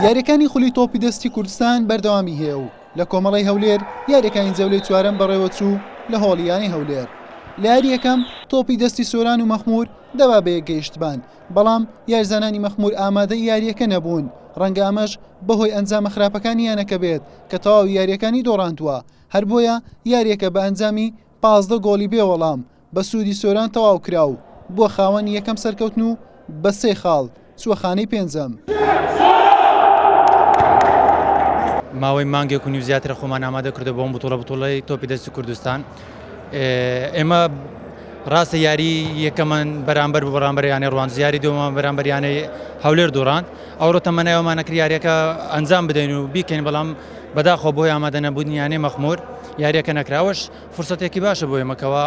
یاریەکانی خولی تۆپی دەستی کوردستان بەردەوامی هەیە و لە کۆمەڵی هەولێر یاریەکانی جەولەی چوارەم بەڕێوەچوو لە هۆڵیانی هەولێر لە یاری یەکەم تۆپی دەستی سۆران و مەخمور دەبا بە یەکگەیشتبان بەڵام یارزانانی مەخمور ئامادە یاریەکە نەبوون ڕەنگە ئەمەش بەهۆی ئەنجامە خراپەکانی یانەکە بێت کە تەواو یاریەکانی دۆڕاندووە هەر بۆیە یاریەکە بە ئەنجامی پازدە گۆڵی بێ وەڵام بە سوودی سۆران تەواو کرا و بووە خاوەنی یەکەم سەرکەوتن و بە سێ خاڵ چووە خانەی پێنجەم. ماوەی مانگێک و نیو زیاترە خۆمان ئامادە کردو بۆم بتوڵە بتوڵی تۆپی دەستی کوردستان ئێمە ڕاستە یاری یەکەمان بەرامبەر بە بەڕامبەریانە ڕوان زیاری دومان بەرامبەریانەی هەولێر دوڕاند ئەوڕۆ تەمەنایەوەمانەکر یاریەکە ئەنجام بدەین و بیکەین بەڵام بەداخۆ بۆی ئامادەە بودنیانەی مەخمور یاریەکە نەکراوەش فرسەتێکی باشە بۆ ئێمە کەوا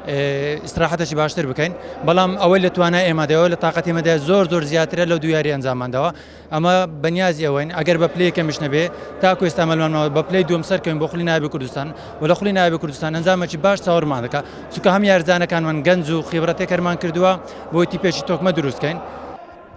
ئیسراحەتەشی باشتر بکەین بەڵام ئەوەی لە توانای ئێمەدەەوە لە تااقەتی مەدە زۆر زۆر زیاترە لە دویاری ئەنجامماندەوە ئەمە بەنیازی ئەوەین ئەگەر بە پلی کەمیش نەبێ تاکو ئێستا مەلمانەوە بە پلی دوم سەرکەین بۆ خولی نابی کوردستان و لە خولی نابی کوردستان ئەنجامەکی باش چاوەڕمان دەکە چکە هەم یارزانەکانمان گەنج و خیبرەتێکەرمان کردووە بۆیتی پێشی تۆکمە دروستکەین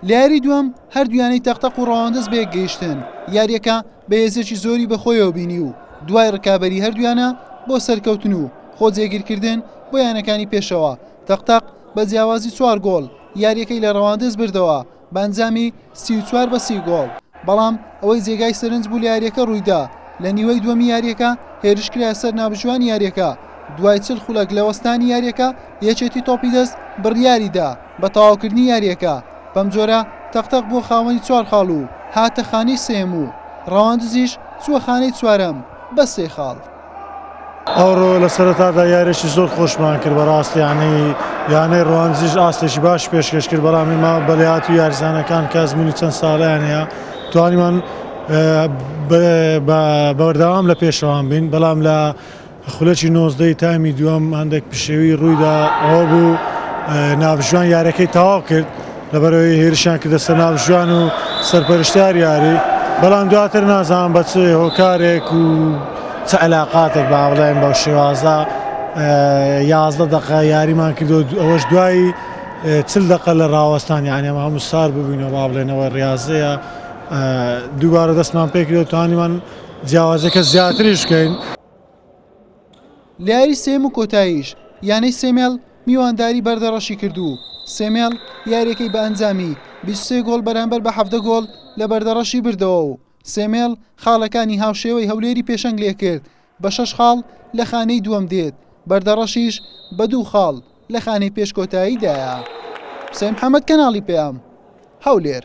لە یاری دووەم هەردوویانەی تەق تەق و ڕەواندز بەیەک گەیشتن، یاریەکە بە هێزێکی زۆری بەخۆیەوە بینی و دوای ڕکابەری هەردوویانە بۆ سەرکەوتن و خۆ جێگیرکردن بۆ یانەکانی پێشەوە، تەق تەق بە جیاوازی چوار گۆڵ یاریەکەی لە ڕەواندز بردەوە بە ئەنجامی سی و چوار بە سی گۆڵ. بەڵام ئەوەی جێگای سەرنج بوو لە یارییەکە روویدا، لە نیوەی دووەمی یارییەکە هێرشکرایە سەر ناوبژیوانی یارییەکە، دوای چل خولەک لە وەستانی یارییەکە، یەکێتی تۆپی دەست بڕیاریدا بە تەواوکردنی یارییەکە، بەمجۆرە تەق تەق بووە خاوەنی چوار خاڵ و هاتە خانەی سێیەم و رەواندزیش چووە خانەی چوارەم بە سێ خاڵ. ئەوڕۆ لە سەرەتادا یارێکی زۆر خۆشمان کرد بەڕاست یانەی یانەی ڕوانزیش ئاستێکی باش پێشکەش کرد بەڵام ئێمە بەلات و یارزانەکان کە ئەزمونی چەند ساڵیان هەیە توانیمان بەوەرداوام لە پێشەوان بین بەڵام لە خولەکی نۆزدەی تامی دووەم هەندێک پشێوی ڕوویدا ئەوە بوو ناوژوان یارەکەی تەواو کرد. لەبەرئەوەی هێرشیان کردە سەر ناوبژیوان و سەرپەرشتیار یاری، بەڵام دواتر نازانم بە چ هۆکارێک و چ عەلاقاتێک با بڵێن بەو شێوازە یازدە دەقە یاریمان کرد و ئەوەش دوای چل دەقە لە ڕاوەستان یانی ئەمە هەموو سار ببووینەوە با بڵێنەوە ڕاستەیە دووبارە دەستمان پێکرد و توانیمان جیاوازەکە زیاتریش بکەین. لەیاری سێیەم و کۆتاییش یانەی سێمێڵ میوانداری بەردەڕەشی کرد و سێمێڵ یارییەکەی بە ئەنجامی بیست و سێ گۆڵ بەرامبەر بە حەڤدە گۆڵ لە بەردەڕەشی بردەوە و سێمێڵ خاڵەکانی هاوشێوەی هەولێری پێشەنگ لێکرد بە شەش خاڵ لە خانەی دووەم دێت بەردەڕەشیش بە دوو خاڵ لە خانەی پێش کۆتایی دایە حوسێن محەمەد کەناڵی پەیام هەولێر.